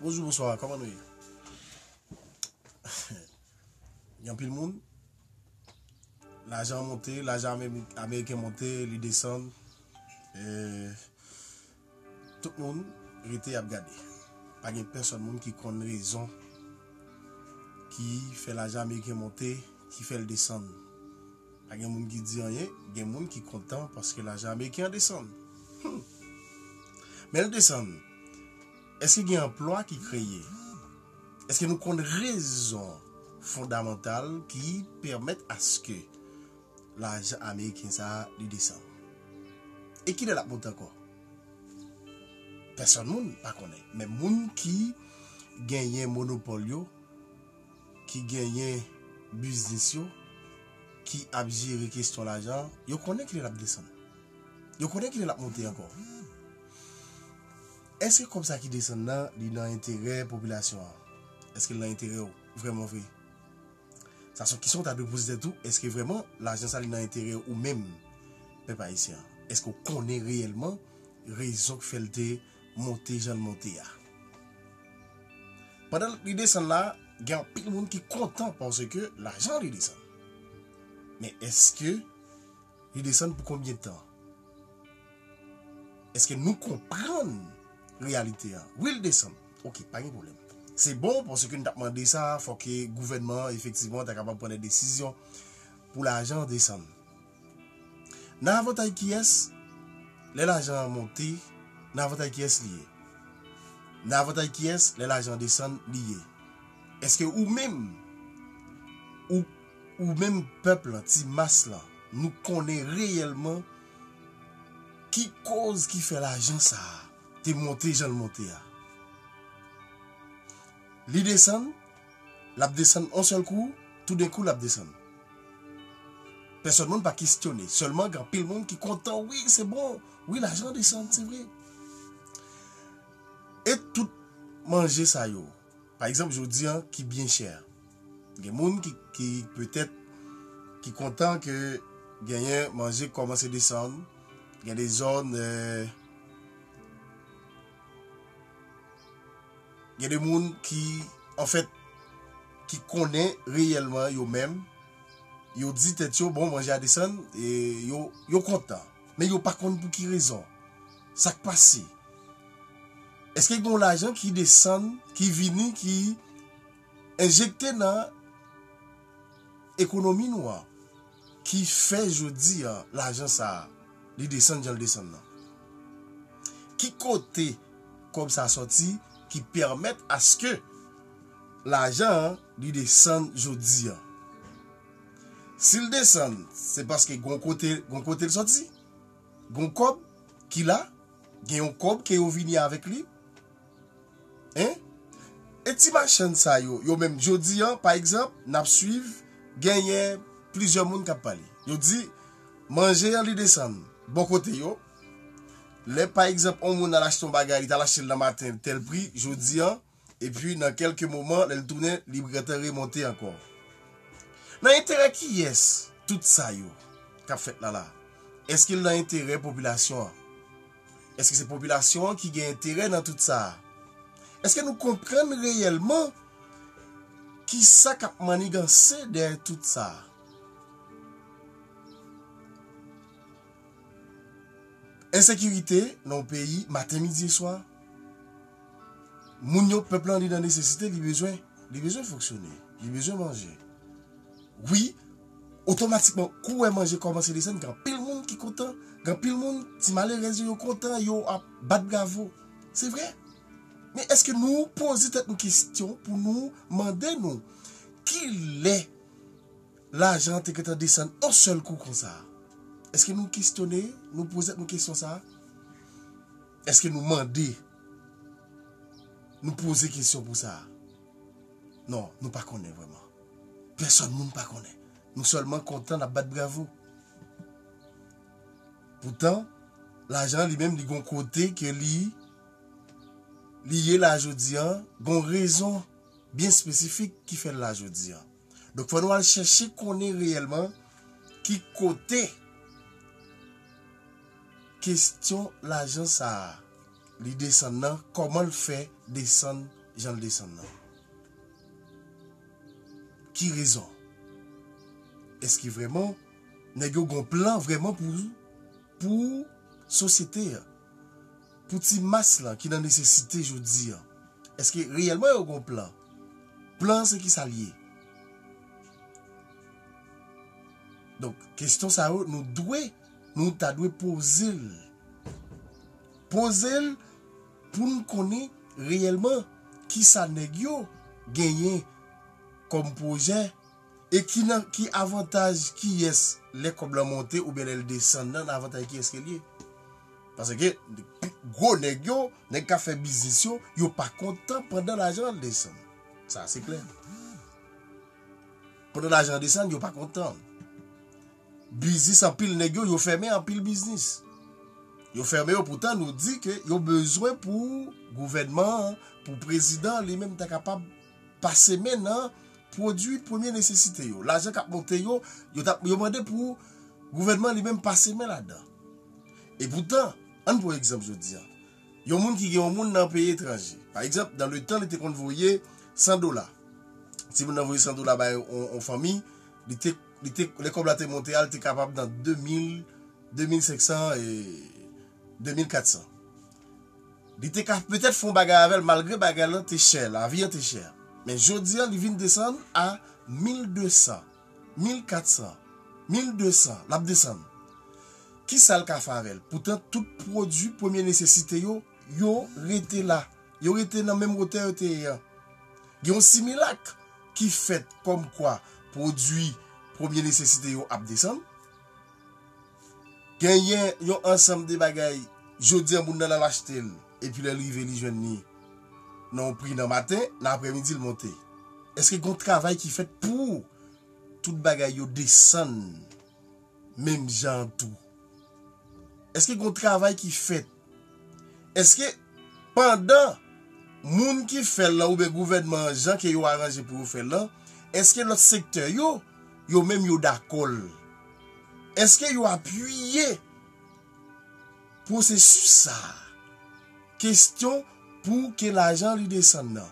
Bonjou bonswa kòman nou ye Yon pil moun Lajan monte lajan ameriken monte li desan euh, Tout moun rete ap gade Pa gen pèsòn moun ki konn rezon Ki fè lajan ameriken monte Ki fè l desan Pa gen moun ki di anyen, gen moun ki kontan paske lajan ameriken an desann. Hum! Men l desann, èske gen anplwa ki kreye? Èske nou konn rezon fondamantal ki pèmèt aske lajan ameriken sa a li desann? E kilè l ap monte ankò? Pèsòn moun pa konnen, men moun ki genyen monopòl yo, ki genyen biznis yo, ki ap jere kesyon lajan, yo konnen kilè l ap desann. Yo konnen kilè l ap monte ankò. Eske kòb sa ki desann nan, li nan enterè popilasyon an? Eske l nan enterè ou vrèman vre? Sa son kesyon ou ta dwe poze tèt ou, eske vrèman lajan sa li nan enterè ou menm pèp ayisyen an? Eske ou konnen reyèlman rezon k fè l te monte jan l monte a. Pandan li desann la, gen anpil moun ki kontan paske lajan li desann. Men eske li desann pou konbyen tan? Eske nou konprann reyalite a? Wi li desann. Ok, pa gen pwoblèm. Se bon paske nou t ap mande sa, fòk gouvènman an efektivman ta kapab pran de desizyon pou lajan desann. Nan avantay kiyès? Lè lajan an monte, nan avantay kiyès li ye? Nan avantay kiyès lè lajan an desann li ye? Eske ou menm, ou menm pèp lan, ti mas lan, nou konnen reyèlman ki koz ki fè lajan sa a te monte jan l monte a? Li desann? Lap desann on sèl kou, toudenkou lap desann. Pèsòn moun pa kestyone, sèlman gen anpil moun ki kontan wi se bon, wi lajan desann se vre. E tout manje sa yo, pa egzanp jodi an ki byen chè a. Gen moun ki petèt ki kontan ke genyen manje kòmanse desann, gen de zòn. Gen de moun ki, anfèt, ki konnen reyèlman yo menm, yo di tèt yo, bon, manje a desann, e yo kontan. Men yo pa konn pou ki rezon. Sa k pase? Èske gen yon lajan ki desann, ki vini, ki enjekte nan ekonomi nou an? Ki fè jodi a lajan sa a li desann jan l desann nan? Ki kote kòb sa a sòti ki pèmèt aske lajan an li desann jodi a? Si l desann se paske gon kote gon kote l sòti? Gon kòb ki la? Gen yon kòb ke yo vini avèk li? Hein? E ti machann sa yo, yo menm, jodi an, pa egzanp, n ap suiv, genyen plizyè moun k ap pale. Yo di, manje an li desann bò kote yo, lè pa egzanp on moun al achte on bagay, li t al achte l nan maten tèl pri, jodi an, epi nan kèlke moman lè l tounen, li gentan remonte ankò. Nan enterè kiyès tout sa yo k ap fèt la la? Èske l nan enterè popilasyon an? Èske se popilasyon an ki gen enterè nan tout sa a? Èske nou konprann reyèlman ki sa k ap manniganse dèyè tout sa a? Ensekirite nan yon peyi maten, midi e swa. Moun yo, pèp lan li nan nesesite, li bezwen fonksyone, li bezwen manje. Wi! Otomatikman kou wè manje kòmanse desann gen anpil moun ki kontan, gen anpil moun ti malerèz yo yo kontan yo ap bat bravo. Se vre. Men èske nou poze tèt nou kesyon pou nou mande nou ki lè lajan an te gentan desann on sèl kou konsa? Èske nou kesyone, nou poze tèt nou kesyon sa? Èske nou mande, nou poze kesyon pou sa? Non, nou pa konnen vrèman. Pèsòn moun pa konnen. Nou sèlman kontan, n ap bat bravo. Poutan, lajan an li menm li gon kote ke li li ye la jodi an, gon rezon byen espesifik ki fè l la jodi an. Donk fò nou al chèche konnen reyèlman ki kote kestyon lajan sa a. Li desann nan koman l fè desann jan l desann nan ki rezon eske vreman nèg yo gon plan vreman pou pou sosyete an pou ti mas lan ki nan nesesite jodi an eske reyèlman yo gon plan plan an se kisa l ye donk kesyon sa yo nou dwe nou ta dwe poze l. Poze l pou n konnen reyèlman ki sa nèg yo genyen kòm pwojè e ki nan ki avantaj kiyès lè kòb lan monte oubyen lè l desann nan nan avantaj kiyès ke l ye. Paske gwo nèg yo, nèg k ap fè biznis yo, yo pa kontan pandan lajan an desann. Sa a se klè. Pandan lajan an desann yo pa kontan. biznis anpil nèg yo, yo fèmen anpil biznis. Yo fèmen yo poutan nou di ke yo bezwen pou gouvènman an, pou prezidan li menm ta kapab pase men nan pwodui premye nesesite yo. Lajan k ap monte yo, yo mande pou gouvènman li menm pase men ladan. E poutan, an n pran egzanp jodi a, yon moun ki gen yon moun nan peyi etranje, pa egzanp, nan le tan li te konn voye 100 dola, si moun nan voye 100 dola bay yon fanmi, li te. Li te, lè kòb la te monte a, li te kapab nan 2000, 2500 e 2400. Li te ka petèt fè yon bagay avè l malgre bagay lan te chè, lavi an te chè. Men jodi an li vin desann a 1200, 1400, 1200, l ap desann. Kisa l ka fè avè l? Poutan tout pwodui premye nesesite yo, yo rete la. Yo rete nan menm wotè yo te ye an. Gen yon similak ki fèt kòmkwa pwodui premye nesesite yo ap desann. Genyen yon ansanm de bagay jodi an moun nan al achte l epi lè l rive li jwenn li nan yon pri nan maten, nan aprèmidi l monte. Èske gen yon travay ki fèt pou tout bagay yo desann? menm jan an tou? Èske gen yon travay ki fèt? Èske pandan moun ki fè l lan oubyen gouvènman an jan ke yo aranje pou yo fè l lan, èske lòt sektè yo, yo menm yo dakò l? Èske yo apiye? Pwosesis sa a. Kestyon pou ke lajan li desann nan.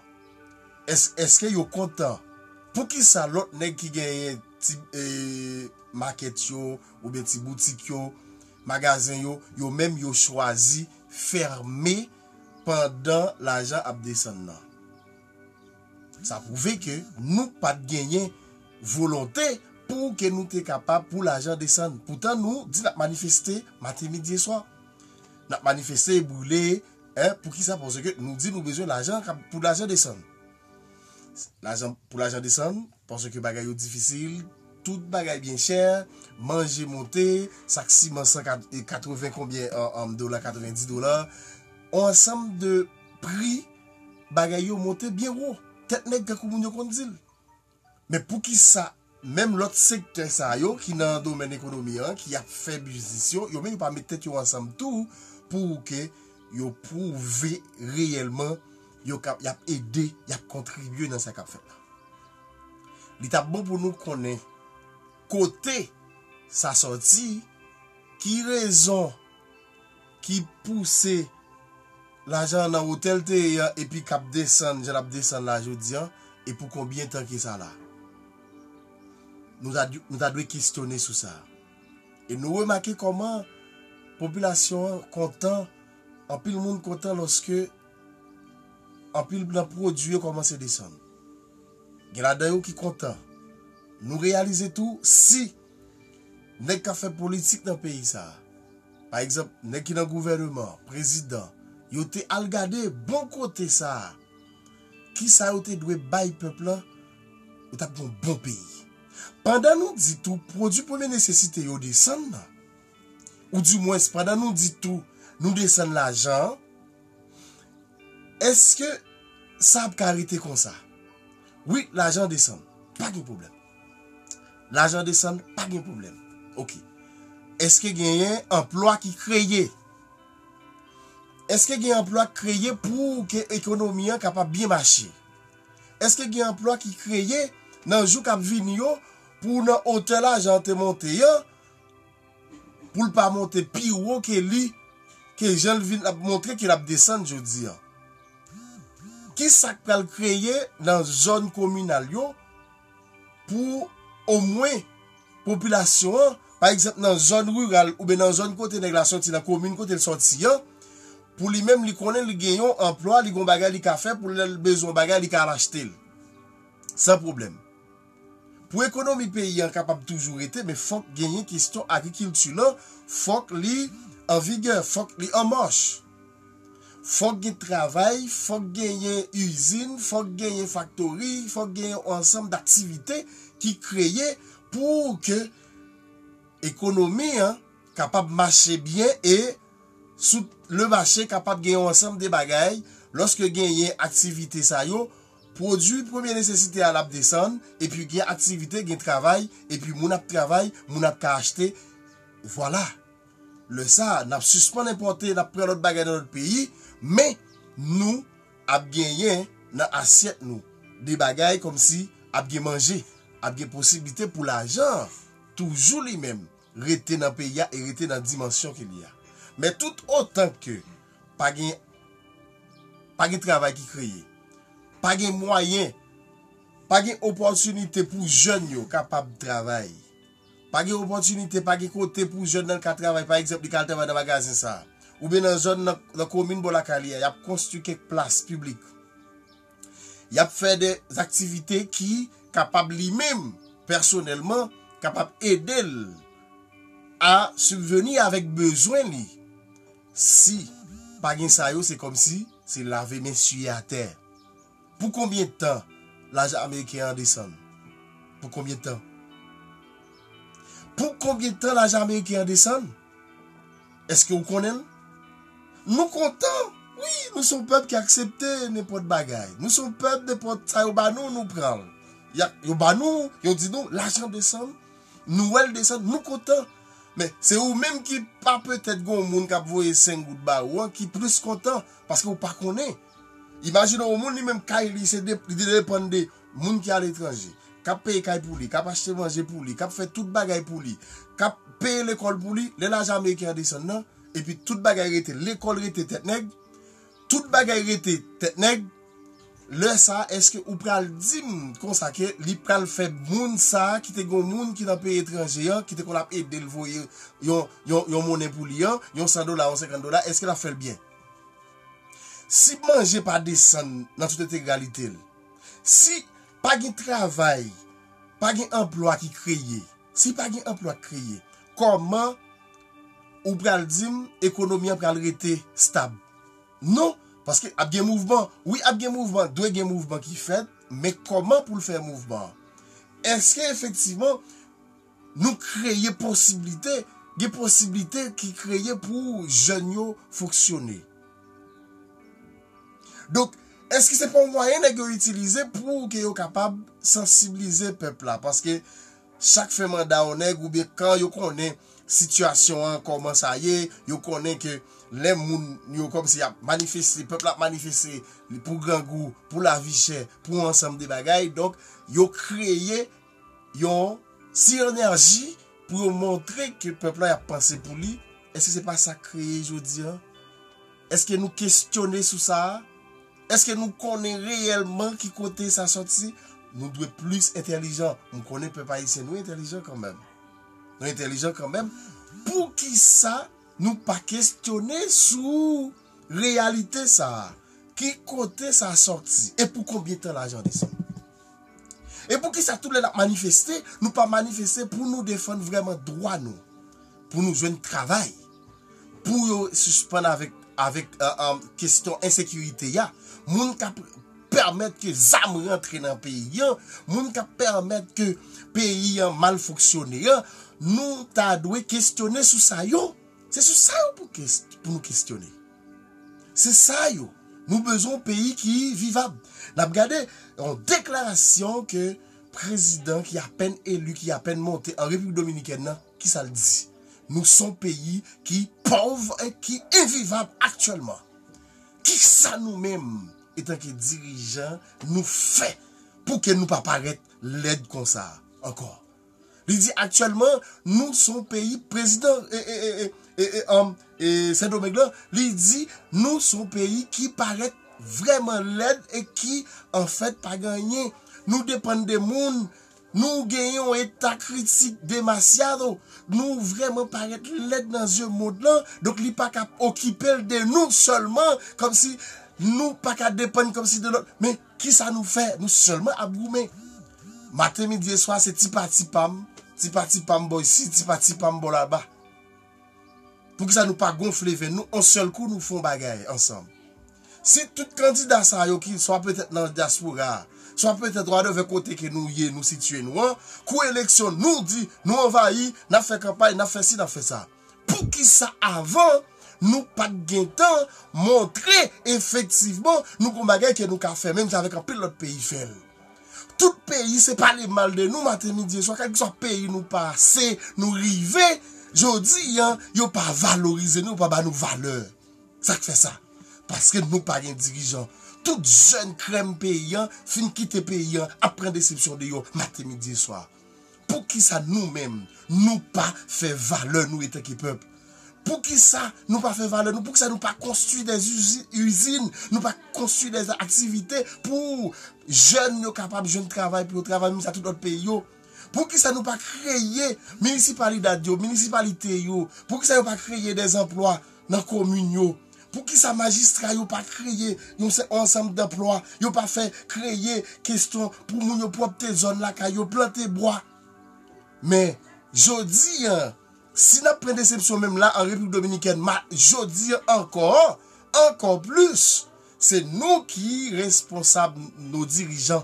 Esk eske yo kontan. Pou kisa lot neg ki genyen ti maket yo ou byen ti boutik yo, magazen yo, yo menm yo chwazi ferme pandan lajan ap desann nan. Sa pwouve ke nou pat genyen volonte pou ke nou te kapab pou lajan desann. Poutan nou di nap manifeste maten midi e swa. Nap manifeste e brile eh poukisa paske nou di nou bezwen lajan pou lajan desann. Lajan pou lajan desann paske bagay yo difisil, tout bagay byen chè, manje monte, sak siman 180 konbyen dola 90 dola. On ansanm de pri. Bagay yo monte byen wo, tèt nèg tankou moun yo konn di l. Men poukisa menm lòt sektè sa yo ki nan domèn ekonomi an, ki ap fè biznis yo, yo menm yo pa met tèt yo ansanm tou pou ke yo pwouve reyèlman yo kab, y ap ede, y ap kontribye nan sa k ap fèt la? Li t ap bon pou nou konnen kote sa sòti, ki rezon. ki pouse lajan an nan wotè l te ye an epi k ap desann jan l ap desann la jodi an e pou konbyen tan ki sa la? Nou ta dwe kesyone sou sa. E nou remake kòman popilasyon an kontan, anpil moun kontan lòske anpil nan pwodui yo kòmanse desann. Gen ladan yo ki kontan. Nou reyalize tou si nèg k ap fè politik nan peyi sa a, Pa egzanp, nèg ki nan gouvèneman an, prezidan, yo te al gade bon kote sa a, ki sa yo te dwe bay pèp lan, yo t ap gen yon bon peyi. Pandan nou di tou pwodui premye nesesite yo desann nan, ou di mwens pandan nou di tou nou desann lajan an, èske sa ap ka rete konsa? Wi, lajan an desann, pa gen pwoblèm. Lajan desann pa gen pwoblèm. Ok. Eske genyen anplwa ki kreye? Eske gen anplwa ki kreye pou ke ekonomi an kapab byen mache? Eske gen anplwa ki kreye nan jou k ap vini yo pou nan otè lajan an te monte an, pou l pa monte pi wo ke li, ke jan l vin ap montre ke l ap desann jodi an? Ki sa k pral kreye nan zòn kominal yo? pou omwen popilasyon an, pa egzanp nan zòn riral oubyen nan zòn kote nèg la soti, nan komin kote l soti an, pou li menm li konnen li gen yon anplwa, li gen yon bagay li ka fè pou lè l bezwen yon bagay li ka al achte l san pwoblèm. Pou ekonomi peyi an kapab toujou rete men fòk genyen kesyon agrikilti lan, fòk li anvigè, fòk li anmach. Fòk gen travay, fòk genyen izin, fòk genyen faktori, fòk genyen yon ansanm daktivite ki kreye pou ke ekonomi an kapab mache byen e sou le mache kapab gen yon ansanm de bagay, lòske genyen aktivite sa yo, pwodui premye nesesite a l ap desann, epi gen aktivite, gen travay, epi moun ap travay, moun ap ka achte, vwala. Lè sa a, n ap sispann enpòte, n ap pran lòt bagay nan lòt peyi, men, nou ap genyen nan asyèt nou de bagay kòmsi ap gen manje, ap gen posiblite pou lajan an toujou li menm rete nan peyi a e rete nan dimansyon ke li a. Men tout otan ke pa gen pa gen travay ki kreye, pa gen mwayen, pa gen opòtinite pou jèn yo kapab travay, Pa gen opòtinite, pa gen kote pou jèn nan ka travay, pa egzanp li ka al travay nan magazen sa a. Oubyen nan zòn nan, nan komin bò lakay li a, y ap konstwi kèk plas piblik. Y ap fè de aktivite ki kapab li menm, pèsonèlman, kapab ede l a sibveni avèk bezwen li. Si pa gen sa yo, se kòmsi se lave men siye atè. Pou konbyen tan lajan ameriken an desann? Pou konbyen tan? Pou konbyen tan lajan ameriken an desann? Eske ou konnen l? Nou kontan, wi, nou se yon pèp ki aksepte nenpòt bagay. Nou se yon pèp nenpòt sa yo ba nou, nou pran l. Yo ba nou, yo di nou, lajan desann, nou wè l desann, nou kontan. Men, se ou menm ki pa petèt gen yon moun k ap voye 5 goud ba ou an ki plis kontan, paske ou pa konnen. Imajine yon moun li menm kay li se li depann de moun ki aletranje, k ap peye kay pou li, k ap achte manje pou li, k ap fè tout bagay pou li, k ap peye lekòl pou li, lè lajan ameriken an desann nan, epi tout bagay rete, lekòl rete tèt nèg, tout bagay rete tèt nèg, lè sa a èske ou pral di m konsa ke li pral fè moun sa a ki te gen yon moun ki nan peyi etranje an ki te konn ap ede l voye yon monnen pou li an, yon san dola, yon senkant dola, èske l ap fè l byen? Si manje pa desann nan tout entegralite l, si pa gen travay, pa gen anplwa ki kreye, si pa gen anplwa ki kreye, kòman ou pral di m ekonomi an pral rete stab? Non, paske ap gen mouvman. Wi, ap gen mouvman, dwe gen mouvman ki fèt, men kòman pou l fè mouvman an? Èske efektivman. Nou kreye posiblite, gen posiblite ki kreye pou jèn yo fonksyone. Donk, èske se pa yon mwayen nèg yo itilize pou ke yo kapab sansiblize pèp la? Paske chak fen manda yon nèg ou byen kan yo konnen sitiyasyon an kòman sa ye, yo konnen ke lè moun yo kòm si ap manifeste, pèp la ap manifeste pou grangou, pou lavichè, pou yon ansanm de bagay, donk yo kreye, Yon ti enèji pou yo montre ke pèp la y ap panse pou li, èske se pa sa k kreye jodi an? Èske nou kesyone sou sa a? Èske nou konnen reyèlman ki kote sa soti? Nou dwe plis entèlijan. M konnen pèp ayisyen nou entèlijan kanmenm. Nou entèlijan kanmenm. Poukisa nou pa kesyone sou reyalite sa a? Ki kote sa soti? E pou konbyen tan lajan desann? E poukisa tout lè n ap manifeste, nou pa manifeste pou nou defann vrèman dwa nou, pou nou jwenn travay, pou yo sispann avèk kestyon ensekirite a, moun k ap pèmèt ke zam rantre nan peyi an, moun k ap pèmèt ke peyi an mal fonksyone an, nou ta dwe kestyone sou sa yo. Se sou sa yo pou nou kestyone. Se sa yo. Nou bezwen yon peyi ki vivab. N ap gade yon deklarasyon ke prezidan ki apèn eli, ki apèn monte an Repiblik Dominikèn nan, ki sa l di? Nou se yon peyi ki pòv e ki envivab aktyèlman. Ki sa nou menm, etanke dirijan, nou fè pou ke nou pa parèt lèd konsa ankò? Li di aktyèlman nou son peyi prezidan e Sendomeng lan li di nou son peyi ki parèt vrèman lèd e ki anfèt pa gen anyen. Nou depann de moun, nou gen yon eta kritik demasyado, nou vrèman parèt lèd nan zye mond lan donk li pa ka okipe l de nou sèlman kòmsi nou pa ka depann kòmsi de lòt men Kisa nou fè? Nou sèlman ap goumen. Maten, midi e swa se ti pa ti pam, ti pa ti pam bò isi, ti pa ti pam bò laba. Poukisa nou pa gonfle venn nou on sèl kou nou fè yon bagay ansanm? Si tout kandida sa yo ki swa petèt nan dyaspora, swa petèt wadèvè kote ke nou ye, nou sitye nou an, kou eleksyon nou di nou anvayi, n ap fè kanpay, n ap fè si, n ap fè sa. Poukisa avan nou pat gentan montre efektivman nou gon bagay ke nou ka fè menm jan avèk anpil lòt peyi fèl. Tout peyi se pale mal de nou maten midi e swa kèlkeswa peyi nou pase nou rive jodi an yo pa valorize nou yo pa ba nou valè. Sak fè sa? Paske nou pa gen dirijan. Tout jèn krèm peyi an fin kite peyi an ap pran desepsyon deyò maten midi e swa. Poukisa nou menm nou pa fè valè nou etanke pèp? Poukisa nou pa fè valè nou? Poukisa nou pa konstwi dè izin, nou pa konstwi dè aktivite pou jèn yo kapab jwenn travay pou yo travay menm jan tout lòt peyi yo? Poukisa nou pa kreye minisipalidad yo, minisipalite yo? Poukisa yo pa kreye dè zanplwa nan komin yo. Poukisa majistra yo pa kreye yon ansanm danplwa, yo pa fè kreye kesyon pou moun yo pwòpte zòn lakay yo, plante bwa. Men, jodi an, si n ap pran desepsyon menm la an Repiblik Dominikèn, ma, jodi an ankò, ankò plis, se nou ki responsab, nou dirijan.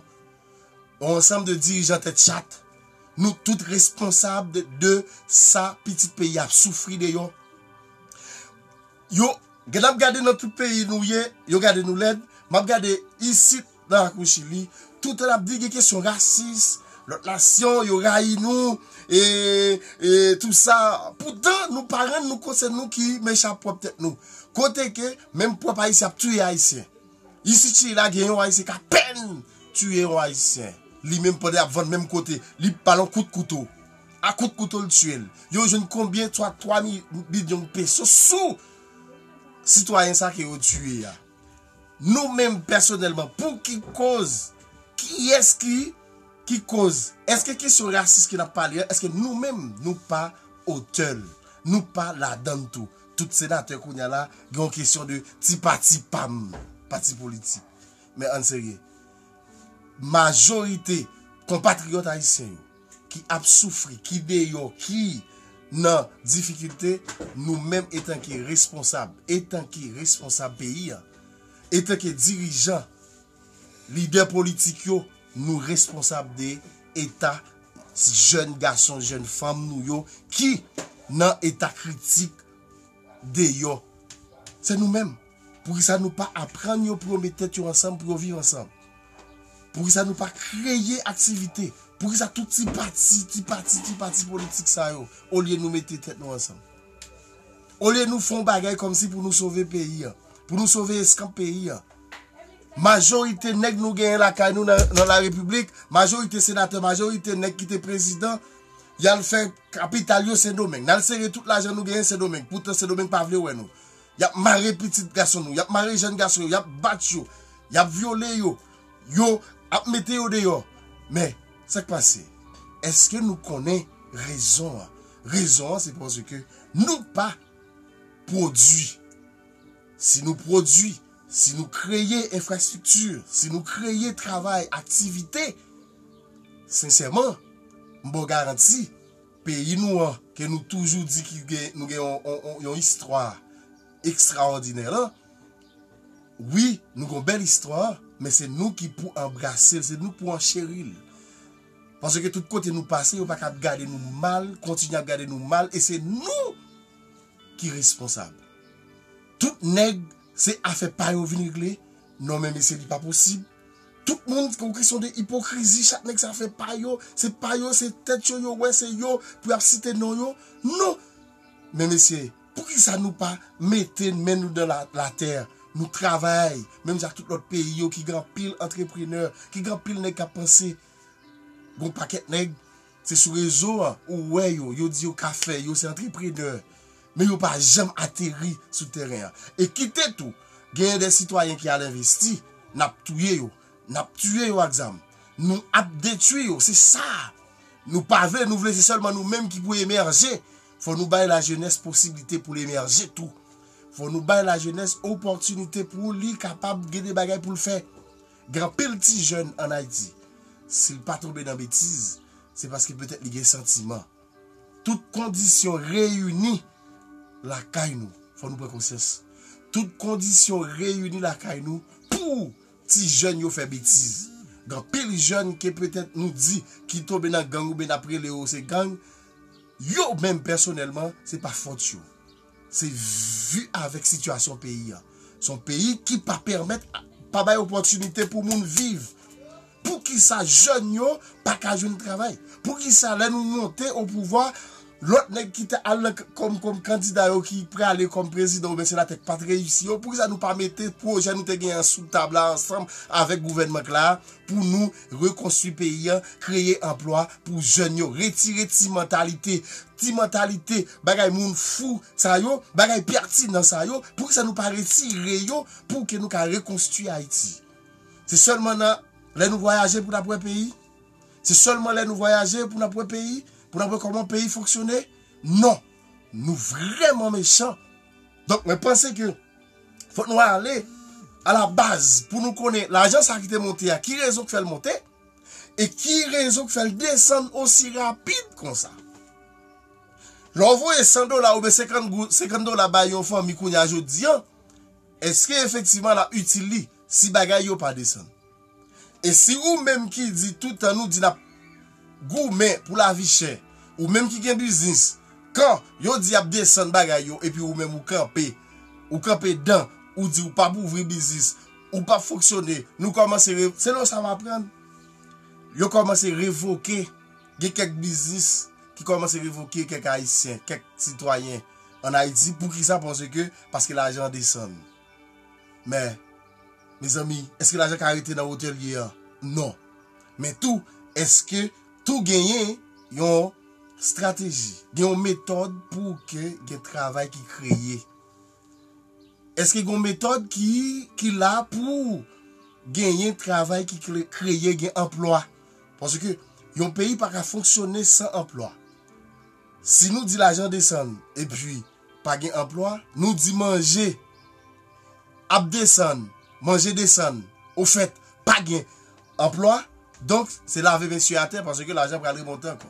On ansanm de dirijan tèt chat, nou tout responsab de sa pitit peyi a ap soufri deyò. Yo gen ap gade nan tout peyi nou ye, yo gade nou lèd, m ap gade isit nan lakou Chili, tout an ap di gen kesyon rasis, lòt nasyon yo rayi nou e tou sa, poutan nou pa rann nou kont se nou ki mechan ap pwòp tèt nou. Kote ke menm pwòp Ayisyen ap touye Ayisyen. Isi chili la gen yon ayisyen ka pèn tiye yon ayisyen li menm pandan yap vann menm kote li bal yon kout kouto a kout kouto li tiyel yo jwenn konbyen swa 3 milyonn peso sou sitwayen sa ke yo tiye a nou menm pèsonèlman pou ki koz kiyès ki ki koz eske kesyon rasis ke nap pale a eske nou menm nou pa otèl nou pa ladann tou. Tout senatè kounya la gen yon kesyon de ti pati pam, pati politik. Men ann serye. Majorite konpatriyòt ayisyen yo ki ap soufri, ki deyò, ki nan difikilte, nou menm etanke responsab, etanke responsab peyi an, etanke dirijan, Lidè politik yo, nou responsab de eta jèn gason, jèn fanm nou yo ki nan eta kritik deyò. Se nou menm. Poukisa nou pa aprann yo pou yo met tèt yo ansanm pou yo viv ansanm? Poukisa nou pa kreye aktivite? Poukisa tout ti pati, ti pati, ti pati politik sa yo olye nou mete tèt nou ansanm? Olye nou fè yon bagay kòmsi pou nou sove peyi an, pou nou sove eskanp peyi an? majorite nèg nou genyen lakay nou nan la repiblik, majorite senatè, majorite nèg ki te prezidan, yal fè kapital yo sen domeng. Nal sere tout lajan nou genyen sen domeng, poutan sen domeng pa vle wè nou. Yap mare pitit gason nou, yap mare jen gason yo, yap bat yo, yap vyole yo, yo ap mete yo deyo. Men, sak pase? Eske nou konnen rezon an? Rezon an se pwosè ke nou pa pwodwi. Si nou pwodui, si nou kreye enfrastrikti, si nou kreye travay, aktivite, sensèman, m ba w garanti, peyi nou an, ke nou toujou di ki gen, nou gen yon istwa ekstraòdinè lan, wi, nou gen yon bèl istwa, men se nou ki pou anbrase l, se nou ki pou ancheri l. Paske tout kote nou pase, yo pa ka ap gade nou mal, kontinye ap gade nou mal, e se nou! ki responsab tout nèg se afè pa yo vin regle non men mesye li pa posib tout moun se yon kesyon de ipokrizi chak nèg se afè pa yo se pa yo se tèt yo yo wè se yo pou yap site non yo non men mesye poukisa nou pa mete men nou dan latè nou travay menm jan ak tout lòt peyi yo ki gen anpil antreprenè ki gen anpil nèg kap panse gon pakèt nèg. Se sou rezo a ou wè yo, yo di yo ka fè, yo se antreprenè, men yo pa janm ateri sou tèren an. E kite tou, genyen de sitwayen ki al envesti, n ap touye yo, n ap tiye yo ak zam, nou ap detui yo, se sa nou pa vle, nou vle se sèlman nou menm ki pou emèje, fò nou bay lajenès posiblite pou l emèje tou, fò nou bay lajenès opòtinite pou li kapab gen de bagay pou l fè, Gen anpil ti jèn an Ayiti, si l pa tonbe nan betiz, se paske petèt li gen santiman. Tout kondisyon reyini lakay nou, fò nou pran konsyans, tout kondisyon reyini lakay nou pou ti jèn yo fè betiz. Gen anpil jèn ke petèt nou di ki tonbe nan gang oubyen n ap rele yo se gang, yo menm pèsonèlman se pa fòt yo. Se vi avèk sitiyasyon peyi a. Se yon peyi ki pa pèmèt, pa bay opòtinite pou moun viv. Poukisa jèn yo pa ka jwenn travay? Poukisa lè nou monte opouvwa, lòt nèg ki te al kòm kandida yo ki prale kòm prezidan oubyen senatè ki pa t reyisi yo, poukisa nou pa mete pwojè nou te genyen sou tab la ansanm avèk gouvènman k la a pou nou rekonstwi peyi a, kreye anplwa pou jèn yo, retire ti mantalite, ti mantalite. Bagay moun fou sa yo, bagay pertinent sa yo, poukisa nou pa retire yo pou ke nou ka rekonstwi Ayiti? Se sèlman nan lè nou vwayaje pou n'ap wè peyi? Se sèlman lè nou vwayaje pou n'ap wè peyi? Pou n'ap wè kòman peyi fonksyone? Non! Nou vrèman mechan! Donk mwen panse ke fòk nou ale a la baz pou nou konnen lajan sa ki te monte a ki rezon k fè l monte? E ki rezon ki fèl desann osi rapid konsa? Lè w voye 100 dola oubyen 50 dola bay yon fanmi kounye a jodi an, eske efektivman l ap itil li si bagay yo pa desann? E si ou menm ki di tout tan nou di n ap goumen pou lavi chè, ou menm ki gen biznis, kan yo di y ap desann bagay yo epi ou menm ou kanpe, ou kanpe dan, ou di ou p ap ouvri biznis, Ou pap fonksyone. Nou kòmanse re. Se lè w sa w aprann. Yo kòmanse revoke. Gen kèk biznis ki kòmanse revoke kèk Ayisyen, kèk sitwayen an Ayiti. Poukisa? Paske, paske lajan an desann. Men, mezanmi, èske lajan ka rete nan wotè l ye an? Non. Men tou, èske tou genyen yon estrateji, gen yon metòd pou ke gen travay ki kreye? Eske gen yon metòd ki la pou genyen travay ki kreye gen anplwa? Paske yon peyi pa ka fonksyone san anplwa. Si nou di lajan desann e pi pa gen anplwa, nou di manje ap desann, manje desann, o fèt pa gen anplwa, donk se lave mesye atè paske lajan pral remonte ankò.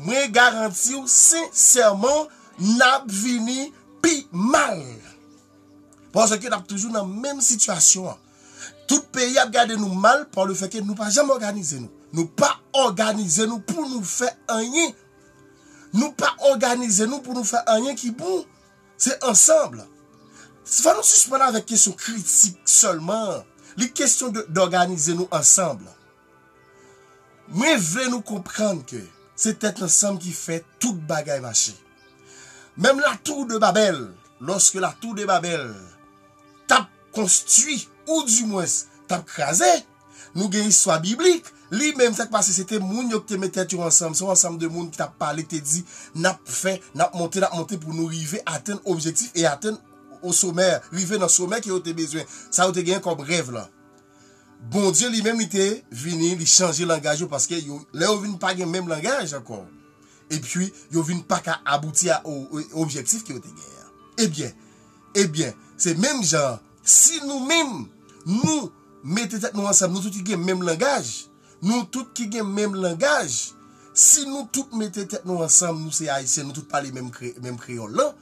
Mwen garantiw sensèman nap vini pi mal. Paske nap toujou nan menm sitiyasyon an. Tout peyi ap gade nou mal pa le fè ke nou pa janm òganize nou. Nou pa òganize nou pou nou fè anyen. Nou pa òganize nou pou nou fè anyen ki bon. Se ansanm. Se fò nou sispann avèk kesyon kritik sèlman. Li kesyon d'òganize nou ansanm. Mwen vle nou konprann ke se tèt ansanm ki fè tout bagay mache. Menm la Tour de Babel, lòske la Tour de Babel tap konstwi ou di mwens tap kraze, nou gen istwa biblik, li menm sak pase se te moun yo ki te met tèt yo ansanm, se yon ansanm de moun ki tap pale ki te di nap fè, nap monte, nap monte pou nou rive atenn objektif e atenn o somè, rive nan somè ke yo te bezwen, sa yo te genyen kòm rèv lan. Bondye li menm li te vini li chanje langaj yo paske yo lè yo vin pa gen menm langaj ankò epi yo vin pa ka abouti a objektif ke yo te gen an ebyen ebyen se menm jan si nou menm nou mete tèt nou ansanm nou tout ki gen menm langaj nou tout ki gen menm langaj si nou tout mete tèt nou ansanm nou se ayisyen nou tout pale menm kreyòl lan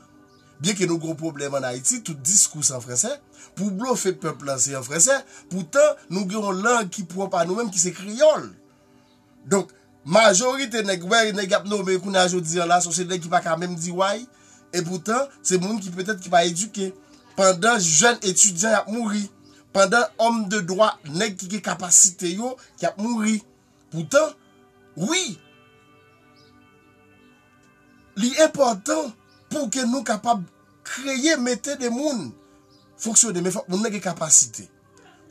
Byen ke nou gen yon pwoblèm an Ayiti, tout diskou se an fransè, pou blofe pèp lan se an fransè, poutan nou gen yon lang ki pwòp a nou menm ki se kreyòl. Donk, majorite nèg, wè nèg y ap nome kounye a jodi an la, son se nèg ki pa ka menm di way, e poutan se moun ki petèt ki pa edike. Pandan jèn etidyan y ap mouri, pandan òm de dwa, nèg ki gen kapasite yo, ki ap mouri. Poutan, wi, li enpòtan pou ke nou kapab kreye, mete de moun fonksyone, men fòk moun nan gen kapasite.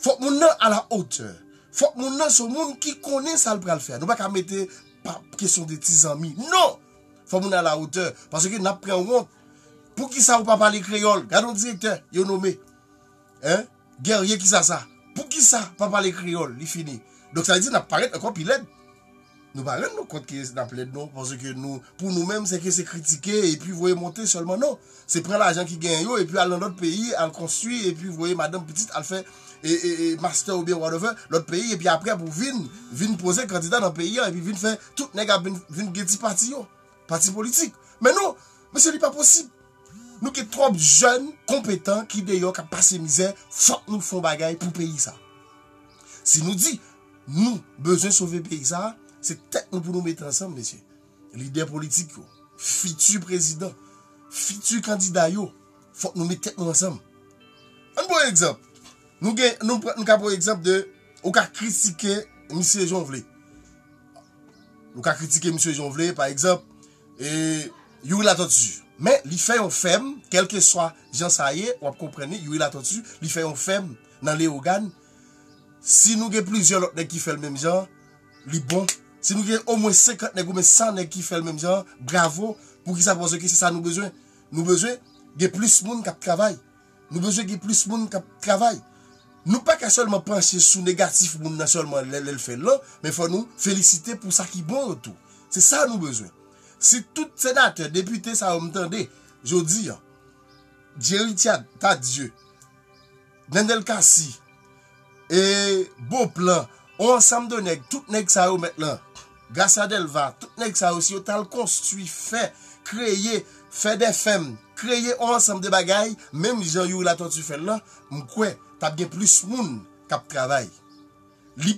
Fòk moun nan a la otè. Fòk moun nan son moun ki konnen sa l pral fè. Nou pa ka mete pa kesyon de ti zanmi. Non! Fòk moun nan a la otè. Paske n ap pran wont. Poukisa ou pa pale kreyòl? Gade yon direktè yo nome. Hein? Guerrier kisa sa? Poukisa pa pale kreyòl? Li fini. Donk sa vle di nap parèt ankò pi lèd. Nou pa rann nou kont ke nap lèd non, paske nou pou nou menm se ke se kritike epi voye monte sèlman non. Se pran lajan ki genyen yo epi al nan lòt peyi al konstwi epi voye madanm pitit al fè master oubyen whatever lòt peyi epi aprè pou vin vin poze kandida nan peyi an epi vin fè tout nèg ap vin vin gen ti pati yo, pati politik. Men non, mesye li pa posib. Nou gen trop jèn konpetan ki deyò kap pase mizè fòk nou fon bagay pou peyi sa. Si nou di nou bezwen sove peyi sa se tèt nou pou nou mete ansanm mesye. Lidè politik yo, fiti prezidan, fiti kandida yo fòk nou met tèt nou ansanm. Ann pran egzanp nou gen nou ka pran egzanp de ou ka kritike misye jan w vle. Nou ka kritike misye jan w vle pa egzanp. Youri Latortue men li fè yon fèm kelkeswa jan sa ye wap konprann li Youri Latortue li fè yon fèm nan Leogane si nou gen plizyè lòt nèg ki fèl menm jan li bon si nou gen omwen 50 nèg oubyen 100 nèg ki fèl menm jan bravo poukisa paske se sa nou bezwen nou bezwen gen plis moun kap travay. Nou bezwen gen plis moun kap travay. Nou pa ka sèlman panche sou negatif moun nan sèlman lè lèl fèl lan, men fò nou felisite pou sa ki bon yo tou. Se sa nou bezwen. Si tout senatè, depite sa yo m tande jodi an, Jerry Thiat, Tardieu, Nènèl Cassy, E bon plan on ansanm de nèg tout nèg sa yo mèt lan Garcia Delva tout nèg sa yo si yo t al konstwi fè kreye fè de fèm kreye on ansanm de bagay menm jan Youri Latortue fè l lan m kwè t ap gen plis moun k ap travay li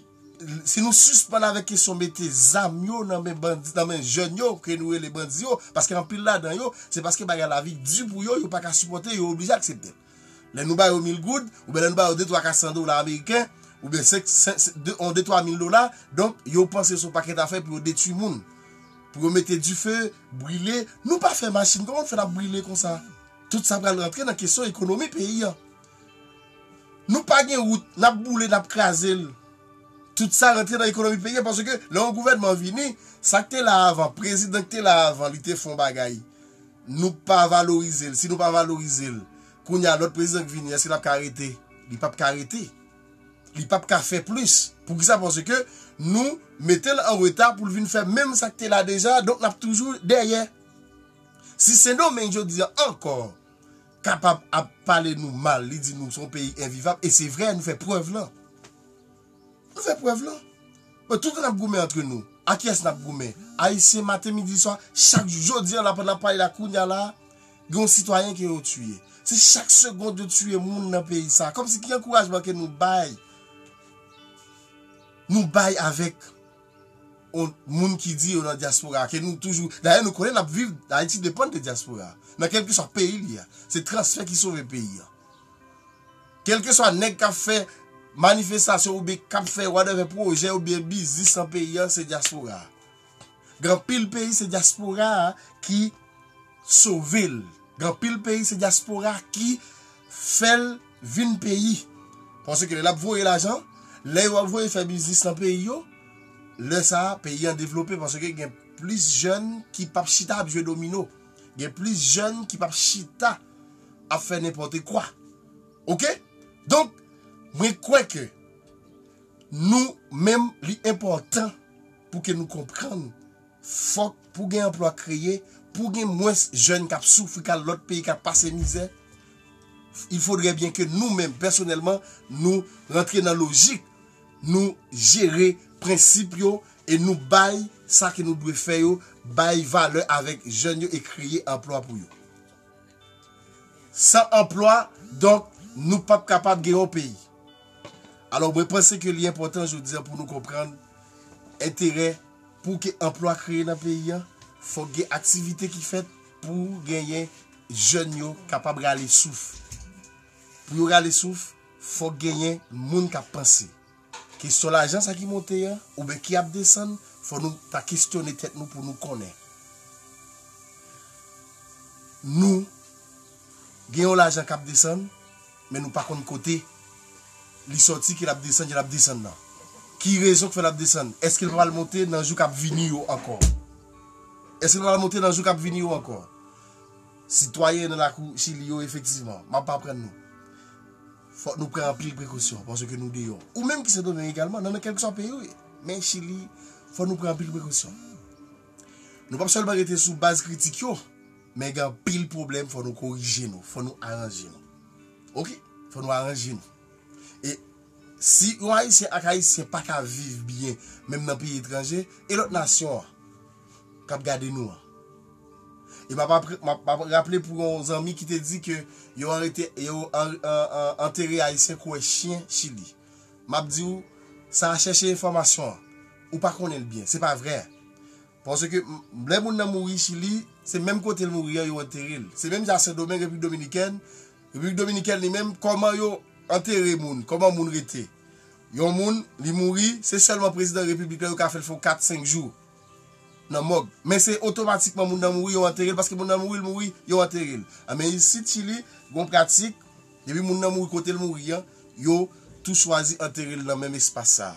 si nou sispann avèk kesyon mete zam yo nan men bandi nan men jèn yo ke nou rele bandi yo paske anpil ladan yo se paske bagay la vi di pou yo yo pa ka sipòte yo oblije aksepte l. Lè nou ba yo mil goud, oubyen lè nou ba yo de twa ka san dola ameriken, oubyen senk, on de twa mil dola, donk yo panse son pakèt afè pou yo detui moun. Pou yo mete dife, brile, nou pa fè machin, kòman nou fè nap brile konsa? Tout sa pral rantre nan kesyon ekonomi peyi an. Nou pa gen wout, nap boule, nap kraze l. Tout sa rantre nan ekonomi peyi an, paske lè yon gouvènman vini, sak te la avan, prezidan ki te la avan li te fè yon bagay. Nou pa valorize l. Si nou pa valorize l, kounye a lòt prezidan ki vini, èske l ap ka rete? Li pap ka rete. Li pap ka fè plis. Poukisa? Paske nou mete l an reta pou l vin fè menm sa k te la deja, donk n ap toujou dèyè. Si Sendomeng jodi a ankò kapab ap pale nou mal, li di nou se yon peyi envivab, e se vre, nou fè prèv lan. Nou fè prèv lan. Bon tout an nap goumen antre nou. A kiyès nap goumen? Ayisyen maten midi swa chak jou. Jodi an la pandan nap pale la kounya la gen yon sitwayen ke yo tiye. Se chak segond yo tiye moun nan peyi sa. Kòmsi ki ankourajman ke nou bay nou bay avèk yon moun ki di yo nan dyaspora ke nou toujou. Dayè nou konnen nap viv Ayiti depann de dyaspora nan kèlkeswa peyi li a. Se transfè ki sove peyi an. Kelkeswa nèg kap fè manifestasyon oubyen kap fè whatever pwojè oubyen biznis nan peyi an se dyaspora. Gen anpil peyi se dyaspora ki sove l. Gen anpil peyi se dyaspora ki fè l vin peyi. Paske lè lap voye lajan, lè yo ap voye fè biznis nan peyi yo, lè sa peyi an devlope paske gen plis jèn ki pap chita ap jwe domino. Gen plis jèn ki pap chita ap fè nenpòte kwa. Ok? Donk, mwen kwè ke nou menm li enpòtan pou ke nou konprann fòk pou gen anplwa kreye, pou gen mwens jèn kap soufri kal lòt peyi kap pase mizè, il faudrait bien ke nou menm pèsonèlman nou rantre nan lojik Nou jere prensip yo e nou bay sa ke nou dwe fè yo bay valè avèk jèn yo e kreye anplwa pou yo. San anplwa, donk, nou p ap kapab gen yon peyi. Alò, mwen panse ke li enpòtan jodi a pou nou konprann enterè pou ke anplwa kreye nan peyi a, fòk gen aktivite ki fèt pou genyen jèn yo kapab rale souf. Pou yo rale souf, Fok genyen moun kap panse. Kesyon lajan sa ki monte yan, ou byen ki ap desann, fok nou ta kesyone tet nou pou nou konnen. Nou gen yon lajan kap desann, men nou pa konn kote li soti ke lap desann jan lap desann nan. Ki rezon ki fe lap desann? Eske li pa pral monte nan jou kap vini yo anko? Eske li pa pral monte nan jou kap vini yo anko? Sitwayen nan lakou Chili yo efektivman, m ap aprann nou. Fòk nou pran anpil prekosyon paske nou deyò. Ou menm ki Sendomeng egalman, nan kèlkeswa peyi ou ye. Men Chili, fòk nou pran anpil prekosyon. Nou p ap sèlman rete sou baz kritik yo, men gen anpil pwoblèm fòk nou korije nou, fòk nou aranje nou. Ok, fòk nou aranje nou. E si yon Ayisyen ak Ayisyen pa ka viv byen menm nan peyi etranje, e lòt nasyon an? kap gade nou an. E map raple pou yon zanmi ki te di ke yo antere ayisyen kouwè chyen chili. Map di ou sa a chèche enfòmasyon an. Ou pa konnen l byen. Se pa vrè. Paske lè moun nan mouri chili, se menm kote l mouri an yo antere l. Se menm jan sendomeng, repiblik dominikèn. Repiblik dominikèn li menm kòman yo antere moun. Kòman moun rete. Yon moun li mouri, se sèlman prezidan repiblik la yo ka fè l fè yon 4, 5 jou. nan mòg men se otomatikman moun nan mouri yo anterel paske moun nan mouri l mouri yo anterel an men isit chili gon pratik depi moun nan mouri kotel mouri an yo tou chwazi anterel nan menm espas sa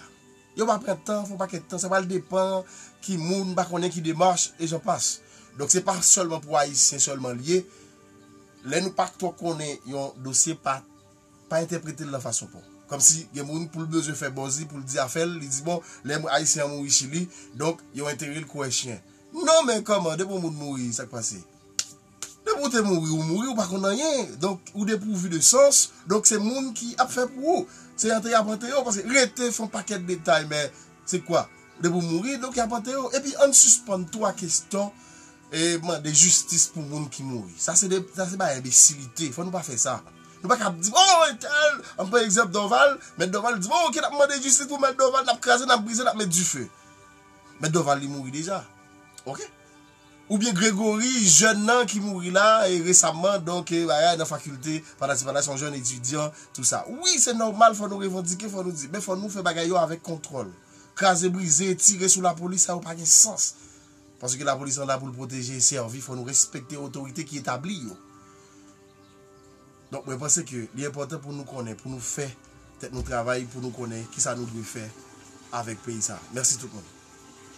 yo pa pran tan fon pakèt tan sa pral depan ki moun pa konnen ki demach e jan pas donk se pa sèlman pou ayisyen sèlman l ye lè nou pa twò konnen yon dosye pa. Pa entèpretel nan fason paw. Kòmsi gen moun poul bezwen fè bòzi poul di afèl li di bon lè ayisyen an mouri chili donk yo enterel kouwè chyen non men kòman depi yon moun mouri sak pase depi ou te mouri ou mouri ou pa konn anyen donk ou depouvu de sans donk se moun ki ap fè pou ou se antere yap antere w paske rete son pakèt detay men se kwa depi ou mouri donk yap antere w epi ann sispann tou a keston E mande jistis pou moun ki mouri. Sa se bagay enbesilite. Fò nou pa fè sa. Nou pa ka ap di, oh entèl, an pran egzanp Dòval, mèt Dòval di, oh ok, n ap mande jistis pou mèt Dòval, n ap kraze, n ap brize, n ap met dife. Mèt Dòval li mouri deja. Ok? Oubyen Gregory, jèn nan ki mouri la, e resamman, donk, e bagay nan fakilte, patati patata, son jèn etidyan, tout sa. Wi, se nòmal, fò nou revandike, fò nou di. Men fò nou fè bagay yo avèk kontwòl. Kraze, brize, tire sou lapolis, sa yo pa gen sans. Paske la police la poul protege e servi fò nou respekte otorite ki etabli yo. Donk mwen panse ke li enpòtan pou nou konnen pou nou fè tèt nou travay pou nou konnen kisa nou dwe fè avèk peyi sa. Mèsi tout moun.